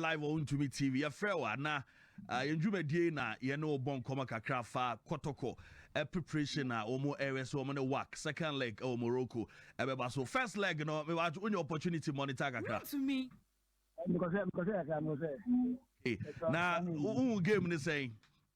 live ɔ Wontumi TV. Yɛfrɛ wo a, na yɛn dwumadie yi na yɛne wo bɔ nkɔmmɔ kakra fa kɔtɔkɔ preparation a wɔn ɛrɛ sɛ wɔn ne WAC second leg ɛwɔ Morocco ɛbɛba so. First leg no, wonyɛ opportunity monitor kakra. Wontumi. Mekɔsɛ mekɔsɛ kakra mekɔsɛ. Na wohu game ne sɛn?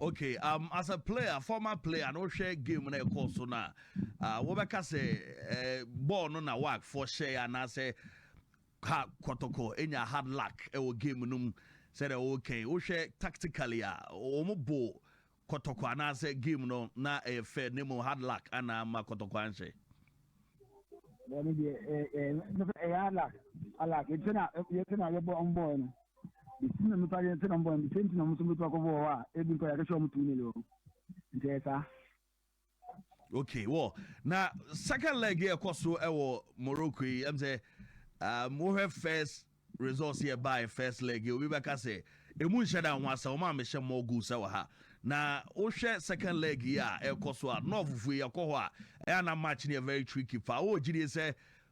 okay um, as a player former player na wohwɛ game na ɛkɔɔ so no a uh, wobɛka sɛ uh, bɔɔl no na wakfoɔ hyɛe anaasɛ ka kɔtɔkɔ ɛnya hard luck ɛwɔ game no mu sɛdeɛ wokɛn wohwɛ tactically a wɔn bo kɔtɔkɔ anaasɛ game no na ɛyɛ fɛ ne mu hard luck anaa ma kɔtɔkɔ anhyɛ ɛyɛ hard luck alak yɛtena yɛbɔ ɔmbɔɔ no Mesi na mepa deɛ nti na mbɔ nti nti na ɔmo nso bɛtumi akɔbɔ wɔ hɔ a ebi nkɔ yɛ akɛhyɛ ɔmo tumi nele wɔ hɔ nti ɛyɛ saa. okay wɔ na second leg yɛ ɛkɔ so ɛwɔ Morocco yi ɛm sɛ um, wohwɛ first results yɛ bae first leg yi obi bɛka sɛ emu nhyɛ da ho asɛ wɔn a mehyɛ more goals ɛwɔ ha na wohwɛ second leg yi a ɛkɔ so a nɔɔfofo yi ɛkɔ hɔ a ɛyɛ na match no yɛ very tricky paa wɔwɔ gyidie sɛ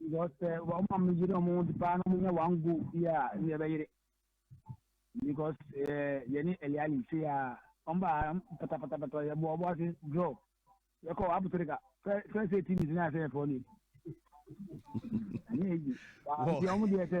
Because sɛ wɔn a wɔyere wɔn ho de paa na wɔnya one goal bi a ɛnna ɛbɛyere because ɛɛ eh, yɛne ɛliali se a wɔn ba patapatapata yɛbɔ ɔbɔ ase draw yɛkɔ apotrika first eighteen minutes na yɛsɛ yɛfɔ ne ɛnyɛ eyi wɔn deɛ sɛ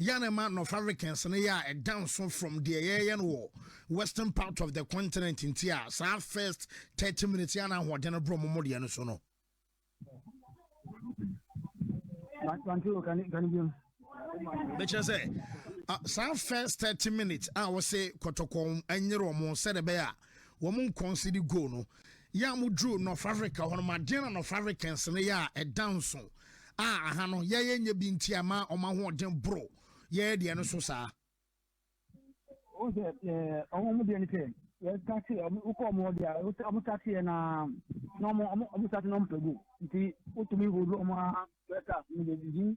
yɛ a na ɛma North Africans no yɛ a ɛda nso from deɛ yɛyɛ no wɔ western part of the continent nti a saa first thirty minutes yɛ a na ahoɔden no borɔ momo deɛ no so no. bɛkyerɛ sɛ saa first thirty minutes a wɔse kɔtɔkɔm anyere wɔn sɛdeɛ bɛyɛ a wɔn nkɔnse de goo no. Yɛ a moduruu North Africa hɔ no, moadeɛ na North Africans no yɛ a ɛda nso a aha no yɛ yɛnyɛ bi nti ama wɔn ahoɔden boro yɛ deɛ no so saa. Wɔn sɛ ɛɛ wɔn deɛ no sɛ yɛtase wɔn wokɔ wɔn hɔ deɛ a wɔn tase yɛ na na wɔn wɔn tase na wɔn pɛ go nti wotumi wɔ wɔn a bɛta wɔn deɛ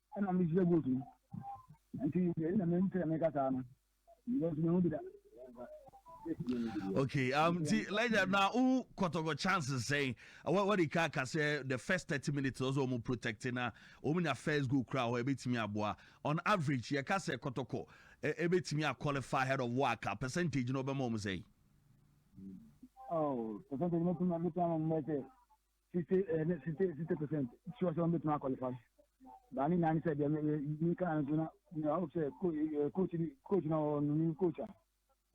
Ɛna me srɛ vote no nti sɛ na me mpɛ me kasa no because me ho bi da. Okay, um, ti Elijah na u kɔtɔkɔ chances sɛn? What what ka ka sɛ the first thirty minutes ɔsɛ ɔmo protect na ɔmo nya first goal kura hɔ ebetumi aboa. On average yɛ ka sɛ kɔtɔkɔ ebetumi a qualify ahead of waka percentage na ɔbɛma ɔmo sɛn? Oh, percentage mo tuma mo tuma mo mɛsɛ sixty ɛɛ ne sixty sixty percent sure sɛ wɔn bɛtumi akɔlifa baa ne nyinaa ne sɛ deɛ mi kan no so na mi awo sɛ coach ni coach na ɔwɔ no ni coach a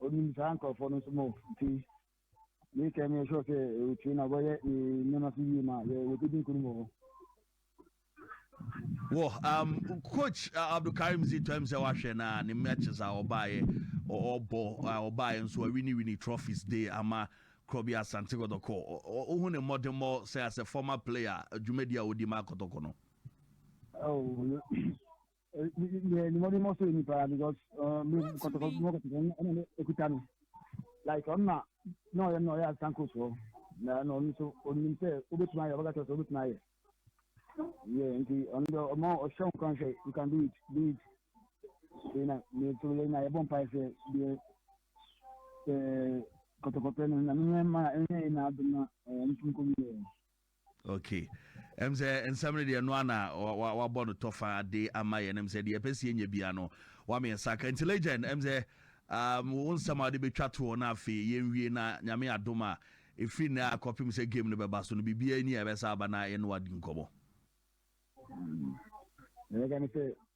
ɔnim saa nkorɔfoɔ no nso mo ti mi kɛ mi sure sɛ ɔtwi na ɔbɛyɛ ne nneɛma so yie ma yɛ wɔbɛdi nkuru mu wɔ Wɔ um, coach uh, abdulkarim si tɔm sɛ wahwɛ na ne matches a ɔbaeɛ ɔbɔ a ɔbaeɛ nso awini wini trophies de ama korɔ bi asante kɔtɔkɔ wohu ne mmɔdemmɔ sɛ asɛ former player dwumadi a ɔdi ma akɔtɔkɔ no oh, yɛ ne mɔden mɔ so yɛ nipa because me kɔtɔkɔ mɔ kɔtɔkɔ ɛna ne ekuta no like ɔno na na ɔyɛ na ɔyɛ asan coach hɔ na ɛna ɔno nso onim sɛ obetumi ayɛ ɔbɛka kyerɛ sɛ obetumi ayɛ yɛ nti ɔno dɛ ɔmɔ ɔhyɛ wɔn kan sɛ you can do it do it yɛ na yɛ to yɛ na yɛbɔ mpa sɛ deɛ ɛɛ kɔtɔkɔtɔ no na ne yɛn ma ɛnyɛ yɛ na adum na ɛɛ nso nkɔm yɛ. Okay. Ɛm sɛ nsɛm no deɛ ɛno ana wabɔ no tɔfa de ama yɛn ɛm sɛ deɛ ɛpɛ sɛ yɛnya bia no wama yɛn saka nti legend ɛm sɛ um, wo nsɛm a wode bɛtwa toɔ no afei yɛnwie na nyame adom a ɛfiri nnɛ a kɔpem sɛ game no bɛba so no biribiaa ni a ɛbɛsa aba na yɛne wadi nkɔmmɔ mm.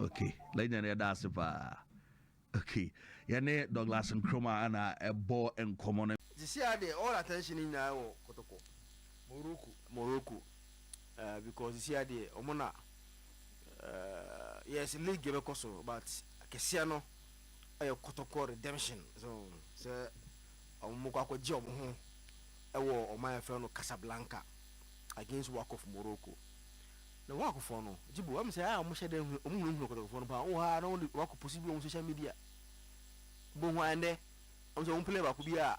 ok legend yɛda ase paa ok yɛne Douglas Nkrumah ana ɛbɔ nkɔmɔ no. Sisiaa deɛ all attention no nyinaa wɔ kotoko Morocco Morocco eh because sisiaa deɛ ɔmo na eh yes league yɛbɛkɔ so but akɛseɛ no ɛyɛ kotoko redemption so sɛ ɔmo kɔ akɔ gye ɔmo ho ɛwɔ ɔman yɛfrɛ no Casablanca against Waqf Morocco Na wɔn akofoɔ no, gye bu, wɔn sɛ a wɔhyɛ dɛ hu, wɔn hunahuna kɔtɔkɔfoɔ no paa, wɔ hɔ ara na wɔde wɔakɔ post bi wɔ wɔn social media, bɔ hu a ɛndɛ, wɔn sɛ wɔn player baako bi a,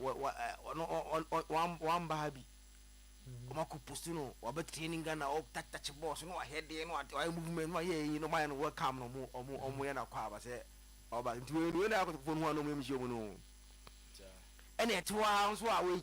wɔ, wɔ, ɛ, ɔno, ɔ, ɔ, ɔ, wɔn, wɔn ba ha bi, wɔn akɔ post no, wɔabɛ training Ghana, wɔ touch touch balls, na wɔayɛ deɛ, na wɔayɛ, wɔayɛ movement, na wɔayɛ ɛyi, na wɔayɛ no welcome, na wɔn, wɔn, wɔn yɛ no akɔ aba sɛ, ɔba, nti wei, wei na akɔtɔkɔfoɔ no hu a na wɔn yɛ mhyia wɔn no, ɛna ɛte hɔ ara nso a wei.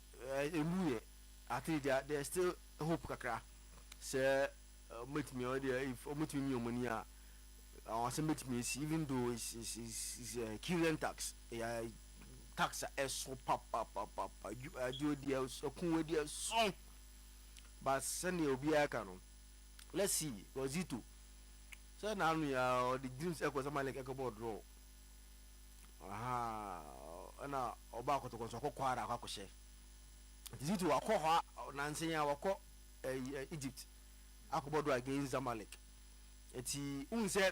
Emu yɛ ate deɛ there's still hope kakra sɛ wɔn bɛtumi wɔn deɛ if wɔn bɛtumi mia wɔn ani a anwanwasɛm bɛtumi asi even though is is is uh, Kyrian tax ɛyɛ tax a ɛso papapapapa adwo deɛ ɛko wɔ deɛ so but sɛdeɛ obiara ka no let's see Wazito sɛ n'ano yɛ ɔde dreams ɛkɔ sɛ Malek ɛkɔ bɔ draw. Ahaa ɛna ɔba akɔtɔkɔ nso ɔkɔ kwara akɔ akɔhyɛ nti ziti wakɔ hɔ nansa yi a wakɔ ɛyi ɛ egypt akɔbɔ do against zamalek eti n sɛ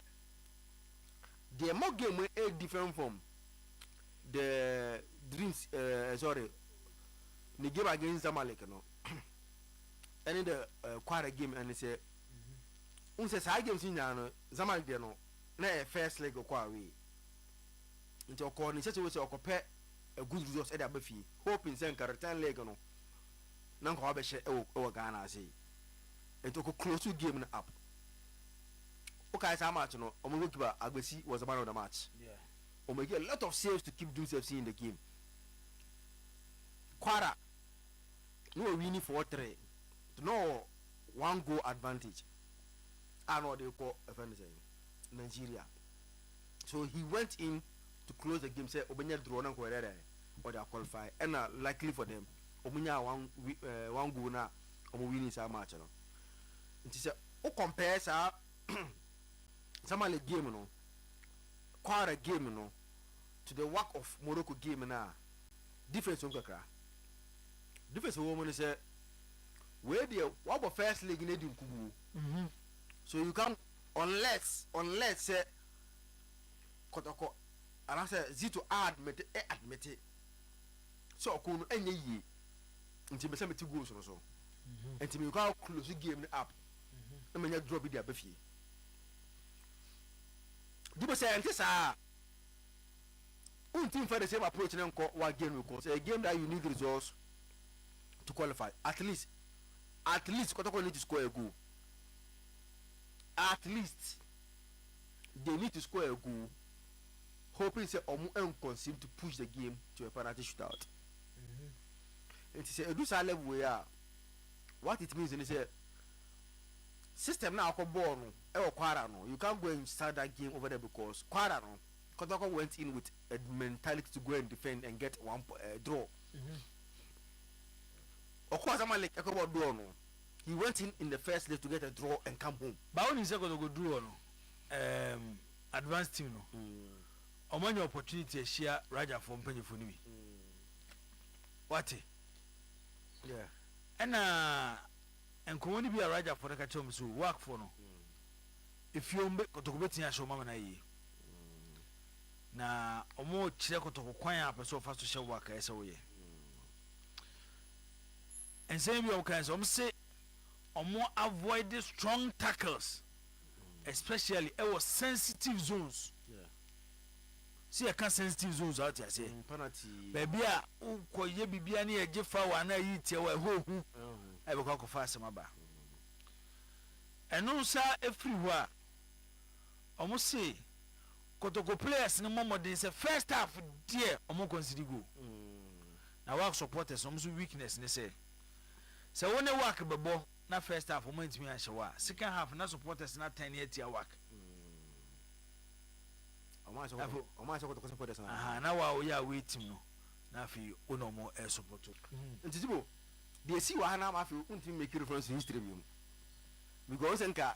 deɛ mo game ɛ different from the dreams ɛɛ sorry ne game against zamalek no ɛne the kwara game ɛne sɛ n sɛ saa games nyinaa no zamalek deɛ no. na ɛyɛ first leg ɔkɔ away nti ɔkɔɔ ne nhyɛsɛ wɔ sɛ ɔkɔpɛ a good result ɛde aba fie hoping sɛ nka return leg no na nka wabɛhyɛ ɛwɔ ɛwɔ Ghana ase nti ɔkɔ close game no up wokae saa match no ɔmo goalkeeper Agbesi was the man of the match Yeah. ɔmo make a lot of saves to keep Dreams FC in the game Kwara na ɔwini four three nti na ɔwɔ one goal advantage a na ɔde kɔ ɛfɛ ne sɛn Nigeria so he went in to close the game sɛ ɔbɛnya draw na nkɔyɛ dɛ ɔde aqualify ɛna luckily for them ɔmo nya one uh, one goal na ɔmo winning saa match no nti sɛ o compare saa Zamalek game no Kwara game no to the work of Morocco game na difference wɔm kakra difference wɔm no sɛ wei deɛ wabɔ first leg no adi nkuguo Mhm so you can't unless unless sɛ kɔtɔkɔ anaasɛ zito admit ɛ admite sɛ ɔko no ɛnyɛ yie nti mɛ sɛ mete goals no so nti mekɔ a close game no up na manya draw bi de aba fie dube sɛ ɛnte saa a wonti mfa the same approach no nkɔ wa game no kɔ sɛ game that you need results to qualify at least at least kɔtɔkɔ need to score a goal at least they need to score a goal hoping sɛ ɔmo ɛnconsume to push the game to a penalty shootout mm-hmm. nti sɛ edu saa level yi a what it means ni sɛ system na akɔ bɔɔl no ɛwɔ kwara no you can't go and start that game over there because kwara no kɔtɔkɔ went in with a mentality to go and defend and get one uh, draw. Mm-hmm. Ɔkɔɔ Zamalek ɛkɔbɔ draw no, he went in in the first leg to get a draw and come home. But wonim sɛ Kotoko duru hɔ no, ɛɛm, advanced team no, wɔn anya opportunity ahyia Raja foɔ mpanyinfoɔ no bi. Wate? Yeah. Ɛna nkɔmɔ no bi a Raja foɔ no ka kyerɛ wɔn sɛ o, Wak foɔ no, efie wɔn bɛ, Kotoko bɛtumi ahyɛ wɔn ama no ayie. Na wɔn rekyerɛ Kotoko kwan a wɔpɛ sɛ wɔfa so hyɛ Wak a ɛsɛ sɛ wɔyɛ. Nsɛm bi a wɔkae sɛ wɔn se wɔn avoid strong tackles especially ɛwɔ sensitive zones si yɛ ka sensitive zones a ɔte aseɛ mm, baabi a wokɔ yɛ biribi a ne yɛgye fa wɔ anaa yi tiɛ wɔ ɛhɔ hu ɛbɛkɔ akɔfa asɛm aba ɛno nsa efiri hɔ a Wɔse Kotoko players no mmɔ mmɔden sɛ first half deɛ wɔn concede goal. Na Wak supporters wɔn nso weakness ne sɛ sɛ wo ne Wak bɛbɔ na first half wɔn antumi anhyɛ wo a second half na supporters no atɛne atia Wak. Ahaa na wo a woyɛ away team no na afei wo na wɔn ɛsupporto. Nti Tibo, deɛ ɛsii wɔ ha no ama afei wontumi mmake reference to history bio because wo sɛ nka.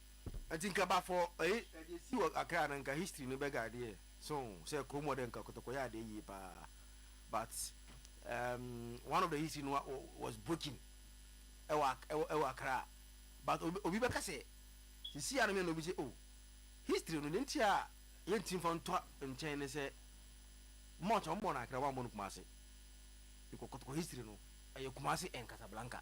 Nti nka ba for ɛyi ɛdi esi wɔ Accra no nka history no bɛ guide yɛ so sɛ kurom hɔ dɛ nka kotoko yɛ adeɛ yie paa but um, one of the history no was broken ɛwɔ ɛwɔ ɛwɔ Accra but obi obi bɛka sɛ sisi a no mɛ na obi sɛ oh history no deɛ nti a yɛn ti nfa ntɔ nkyɛn ne sɛ much wɔn bɔ no Accra wɔn bɔ no Kumasi because kotoko history no ɛyɛ Kumasi and Casablanca.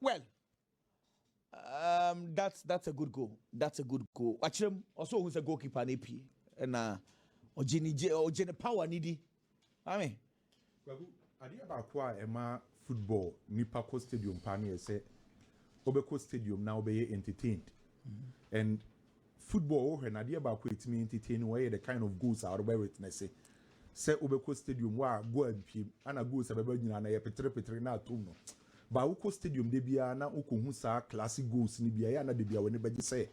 well um, that's that's a good goal that's a good goal wakyerɛ mu ɔsɛ ohun sɛ goalkeeper na epie ɛna ɔgye ne gye ɔgye ne power ne di maame. kwaku adeɛ baako a ɛma football nipa kɔ stadium paa no yɛ sɛ wobɛkɔ stadium na wobɛyɛ entertained and Football wo hwɛ no adeɛ baako a ɛtumi entertain wo ɛyɛ the kind of goals a wobɛ witnesse sɛ wo bɛ kɔ stadium wo a goal ampiem ana goals a bɛ ba nyinaa na yɛ petere petere na atom no ba wo kɔ stadium da biara na wo kɔ hu saa classic goals no bi a ɛyɛ ana da biara w'ani bɛ gye sɛ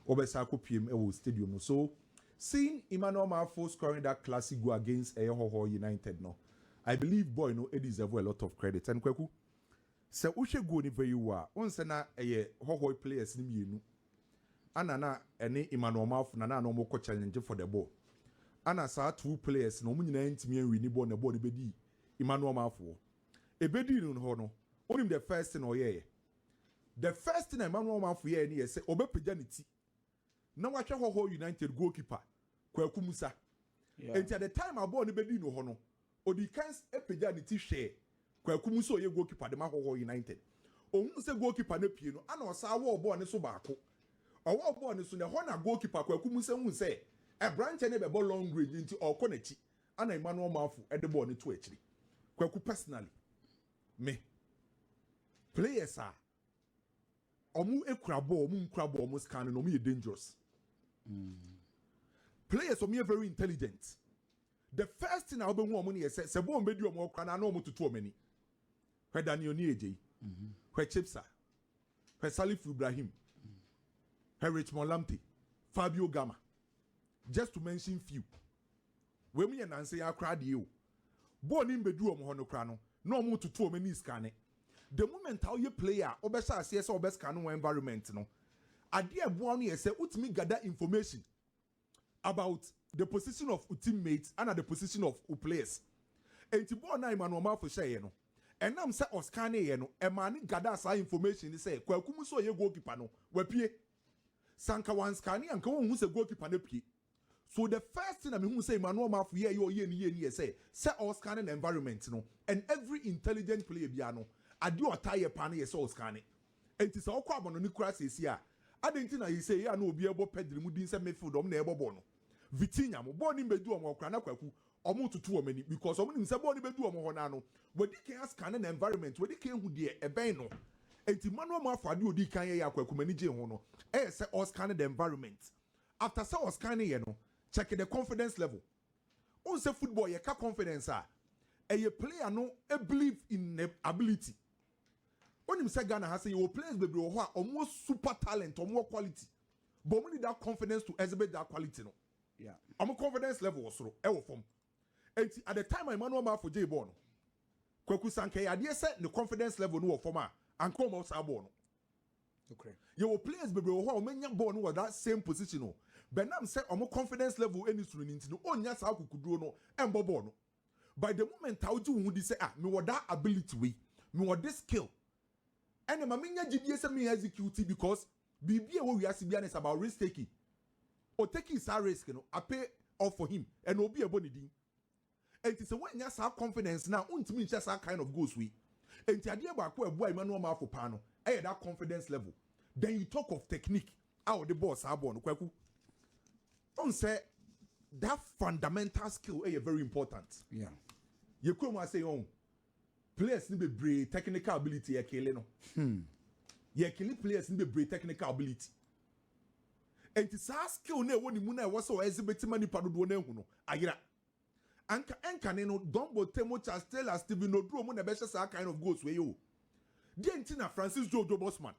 wo bɛ sa akɔ piem ɛwɔ stadium no so seeing Emmanuel Marfo scoring that classic goal against ɛyɛ hɔhɔ United no I believe boy no deserve a lot of credit and Kwaku Sɛ wohwɛ guo no vɛyiw a, wohu sɛ na ɛyɛ hɔhɔe players no mmienu ɛna na ɛne Emmanuel Marfo na na wɔn kɔ challenge for the ball. Ɛna saa two players no wɔn nyinaa ntumi anwini bɔɔl na bɔɔl no bɛdii Emmanuel Marfo hɔ. Ɛbɛdii no hɔ no, wonim the first thing ɔyɛeɛ? The first thing a Emmanuel Marfo yɛeɛ ne yɛ sɛ ɔbɛpagya ne ti na wahwɛ Hohoe United goalkeeper Kwaku Mensah. Enti at the time a bɔɔl no bɛdii no hɔ no, ɔdii kan pagyaa ne ti hwɛɛ Kwaku mu sɛ ɔyɛ goalkeeper de ma Hohoe United. Ɔhuu sɛ goalkeeper no apue no, ɛnna ɔsan wɔɔ bɔɔl no so baako. Ɔwɔɔ bɔɔl no so no, ɛhɔ na goalkeeper Kwaku Mensah huu sɛ aberanteɛ no rebɛbɔ long range enti ɔrekɔ n'akyi, ɛnna Emmanuel Marfo de bɔɔl no too akyire. Kwaku personally, me players a ɔmo ekura bɔɔl ɔmo nkura bɔɔl ɔmo scan no ɔmo yɛ dangerous players ɔmo yɛ very intelligent the first thing a ɔbɛhu ɔmo no yɛ sɛ sɛ bɔɔl bɛdi ɔmo ɔkora no ano ɔmo tutu ɔmo ani hwɛ daniel ni egye yi hwɛ chipsa hwɛ salifu ibrahim hwɛ richmond lamte fabio gama just to mention few wei mu yɛ nansa yi akora adeɛ o. Bɔɔl no mmbedu wɔn hɔ no koraa no, na wɔretutu wɔn ani reskane. The moment a woyɛ player a wobɛhyɛ aseɛ sɛ wobɛskane wo environment no, adeɛ a ɛboa wo no yɛ sɛ wotumi gather information about the position of wo teammates ɛna the position of wo players. Enti bɔɔl no a Emmanuel Marfo hyɛeɛ no, ɛnam sɛ ɔskaneeɛ no, ɛmaa no gather saa information no sɛ Kwaku Musu a ɔyɛ goalkeeper no, wapue. Sɛ anka wanskane a, anka wɔnhu sɛ goalkeeper no apue. So the first thing a mehuu sɛ Emmanuel Marfo yɛɛ yɛ ɔyɛɛ no yie no yɛ sɛ sɛ ɔrescanne n'environment no and every intelligent player biara no adeɛ a ɔtaa yɛ paa no yɛ sɛ ɔrescanne enti sɛ ɔkɔ abɔnɔne koraa seesei a adɛn nti na seesei yɛ a na obiara bɔ Pedri mu din sɛ midfield ɔmo na ɛrebɔ bɔɔl no Vitinha mo bɔɔl no mmɛdu ɔmo hɔ koraa na kwaku ɔmo toto wɔn ani because ɔmo nim sɛ bɔɔl no bɛdu wɔn hɔ no ara no wadi kan ascanne n'environment wadi kan ahu deɛ ɛbɛn no enti Emmanuel Marfo adeɛ a ɔdii kan yɛeɛ a kwaku m'ani gyee ho no yɛ sɛ ɔrescanne the environment After sɛ wɔ scan yɛ no check the confidence level wohu sɛ football yɛka confidence a ɛyɛ player no believe in ne ability wonim sɛ Ghana ha sɛ yɛwɔ players bebree wɔ hɔ a wɔn wɔ super talent wɔn wɔ quality but wɔn need that confidence to exhibit that quality no wɔn confidence level wɔ soro ɛwɔ fam enti at the time a Emmanuel Mafo gyee bɔɔl no Kwaku Sankɛ yɛ adeɛ sɛ ne confidence level no wɔ fam a anka wɔn saa bɔɔl no. Yɛwɔ players bebree wɔ hɔ a wɔanya bɔɔl no wɔ that same position no, but nam sɛ wɔn confidence level nni soro no nti no, wɔnnya saa akokoduro no mmɔ bɔɔl no. But the moment a wogye wo ho di sɛ ah, mewɔ that ability wei, mewɔ this skill, ɛna ɛma menya gyidie sɛ me execute because biribi a ɛwɔ wiase biara no is about risk taking. Ɔtakii saa risk no, I pay off for him, ɛna obi a ɛbɔ ne din. Enti sɛ woannya saa confidence no a wontumi nhyɛ saa kind of goals wei. Enti adeɛ baako a ɛboaa Emmanuel Marfo paa no yɛ that confidence level. Then you talk of technique a ɔde bɔɔ saa bɔɔl no, Kwaku. Wohu sɛ that fundamental skill yɛ very important. Yeah. Yɛ kurom ha sɛ yɛn players no bebree technical ability yɛ kele no. Hmm. Yɛ kele players no bebree technical ability. Enti saa skill na ɛwɔ ne mu na ɛwɔ sɛ ɔyɛ dze bɛtima nipa dodoɔ no ahu no ayera. Anka ɛnkane no, Don Bothemo, Charles Taylor, Stephen Oduro mo na ɛbɛhyɛ saa kind of goals wei o. Deɛn nti na Francis Jojo Bosman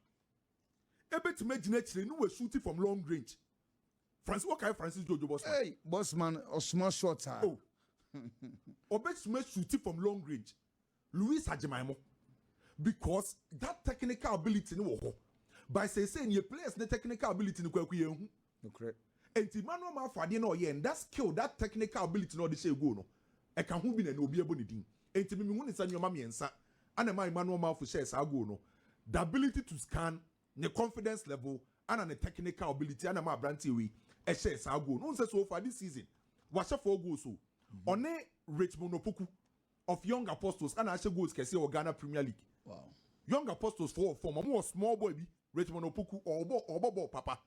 ɛbɛtumi agyina akyire ne w'ashuti from long range? Francis, wokae Francis Jojo Bosman? Ei, Bosman ɔsoma shot a. Oh, ɔbɛtumi ashuti from long range. Louis Agyemaemo because that technical ability no wɔ hɔ but seesei neɛ players ne technical ability no kwaku yɛn hu Nokorɛ. Nti Emmanuel Marfo adeɛ no a ɔyɛɛ no that skill that technical ability no a ɔde hyɛɛ goal no ɛka ho bi na ɛnɛ obi ɛbɔ ne din nti me me hu no sɛ nnoɔma mmiɛnsa ɛna ɛmaa Emmanuel Marfo hyɛɛ saa goal no the ability to scan ne confidence level ɛna ne technical ability ɛna ɛmaa abranteɛ wei ɛhyɛɛ saa goal no wohu sɛ so far this season wahyɛ four goals o ɔne Richmond Opoku of young apostles ɛna ahyɛ goals kɛseɛ wɔ Ghana Premier League young apostles foɔ wɔ fam ɔmo wɔ small boy bi Richmond Opoku ɔbɔ ɔbɔ bɔɔl papa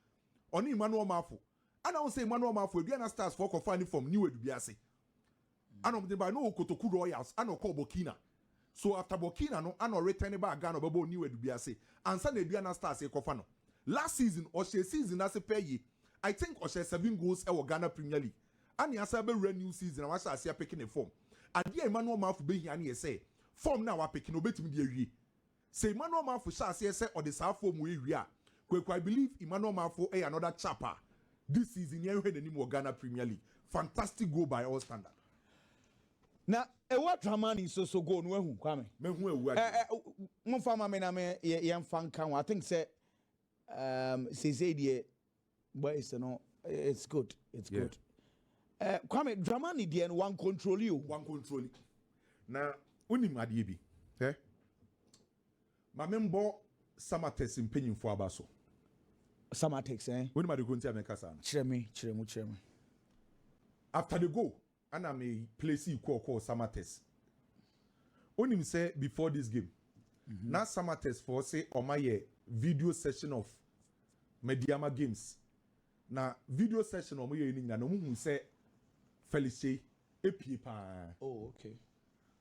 ɔne Emmanuel Mafo ɛna ɔn sɛ Emmanuel Mafo ebi ɛna stars foɔ kɔfaa ne fam New Adubiase ɛna ɔmo de ba ɛna ɔwɔ Kotoku Royals ɛna ɔkɔɔ Burkina so after Burkina no ɛna ɔretɛn ne baa Ghana ɔbɛbɔɔ New Adubiase ansa na Aduana Stars rekɔfa no last season ɔhyɛɛ season no ase pɛɛ yie I think ɔhyɛɛ seven goals ɛwɔ Ghana Premier League. Annie asan abɛwura new season a wahyɛ aseɛ apeke ne fɔm. Adeɛ a Emmanuel Marfo bɛhia ne yɛ sɛ fɔm no a wapeke no ɔbɛtumi de awie. Sɛ Emmanuel Marfo hyɛ aseɛ sɛ ɔde saa fɔm wei wie a, Kweku I believe Emmanuel Marfo yɛ another chap a this season yɛn hwɛ n'anim wɔ Ghana Premier League. Fantastic goal by all standard. Na Ewua Dramani nso so goal no wahu Kwame? Mahu Ewua deɛ. Eh, eh, momfa ma me na me yɛmfa nka ho. I think sɛ um, seesei deɛ Boys no eh, it's good, it's yeah. good. Eh, Kwame Dramani deɛ no wan control you. Wan control you. Na unim adeɛ bi. Eh? Maame mbɔ Samatex mpanyinfo aba so. Samatex eh? Unim adeɛ ko nti a mɛka saa no. Kyerɛ me, kyerɛ mu, kyerɛ me. After they go, Ana me placee call kɔɔ Samatex wonim sɛ before this game na Samatex foɔ se wɔn ayɛ video session of Medeama games na video session wɔn yɛɛ no nyinaa no wɔn huu sɛ Felix Kyei epie paa. Oh okay.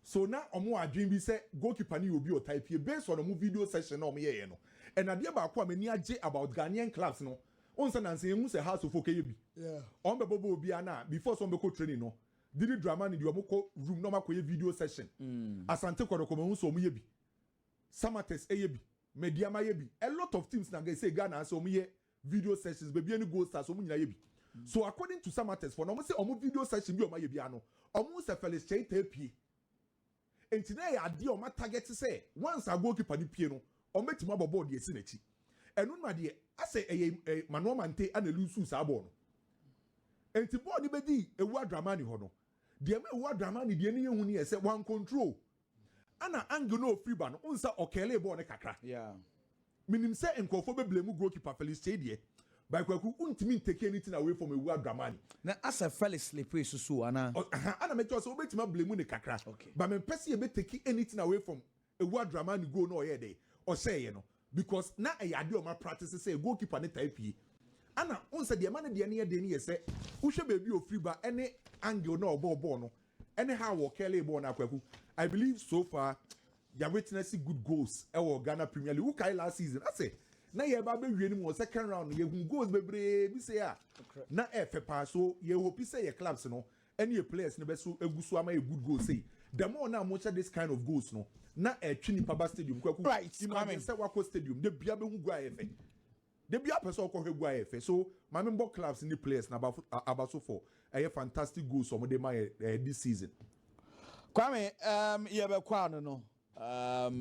So na wɔwɔ adwene bi sɛ goalkeeper no yɛ obi a ɔtaa pue? Based on wɔn video session a wɔyɛeɛ no, and adeɛ baako a m'ani agye about Ghanaian clubs no, wohu sɛ nansa yɛnhu sɛ Hearts of Oak yɛ bi. Wɔbɛbɔbɔ obiara no a, before sɛ wɔbɛkɔ training no, Didi Dramani deɛ wɔkɔ room na wɔakɔyɛ video session. Asante Kɔtɔkɔ mahu sɛ wɔyɛ bi. Samatex yɛ bi. Medeama yɛ bi. A lot of teams na sɛ Ghana ha sɛ wɔyɛ Video sessions bebia ne gold stars ɔmo nyinaa yɛ bi so according to some artists fɔ na ɔmo se ɔmo video session bi a ɔmo ayɛ biara no ɔmo hu sɛ Felix Kyei taa pie nti na ɛyɛ adeɛ a ɔmo atagɛte sɛ once a goalkeeper no pie no ɔmo betumi abɔ bɔɔl de asi n'akyi ɛno no adeɛ asɛ ɛyɛ ɛ Manoa Mante ana eluusuu saa bɔɔl no nti bɔɔl no bedii Ewuah Dramani hɔ no deɛ ɛma Ewuah Dramani deɛ no yɛ hu no yɛ sɛ wan control Ana angle no ofiri ba no wohu sɛ ɔkɛɛlee bɔɔl no kakra. Menim sɛ nkurɔfoɔ bɛblame goalkeeper Felix Kyei deɛ but Kwaku wontumi ntake anything away from Awuraa Dramani. Na asɛ Felix sleepee soso o anaa? Ɔ aha ana mekyerɛ wo sɛ wobɛtumi ablame no kakra but mempɛ sɛ yɛbɛtake anything away from Awuraa Dramani goal no a ɔyɛɛ dɛn ɔhyɛeɛ no because na ɛyɛ adeɛ a wɔn apractice sɛ goalkeeper no taa pie. Ana wohu sɛ deɛ ɛma ne deɛ no yɛ den no yɛ sɛ wohwɛ baabi a ofiri ba ne angle no a ɔbɔɔ bɔɔl no Anyhow wɔ Kelly bɔɔl no a Kwaku, I believe so far yɛ witness good goals ɛwɔ Ghana Premier League. Wokae last season asɛ na yɛreba abɛwie no mu wɔ second round no yɛhu goals bebree bi sei a na ɛyɛ fɛ paa so yɛ hope sɛ yɛ clubs no ɛne yɛ players no bɛso egu so ama yɛ good goals sei. The more na mohyɛ this kind of goals no na ɛtwe nipa ba stadium. Kwaku, imagine sɛ wakɔ stadium da bia bɛhu goal a ɛyɛ fɛ. Da biara pɛ sɛ ɔkɔ hwɛ gu ayɛ fɛ so ma me bɔ clubs ne players na abaso for ɛyɛ fantastic goals ɔmo de ma yɛ this season. Kwame, um, yɛbɛkɔ ano no, um.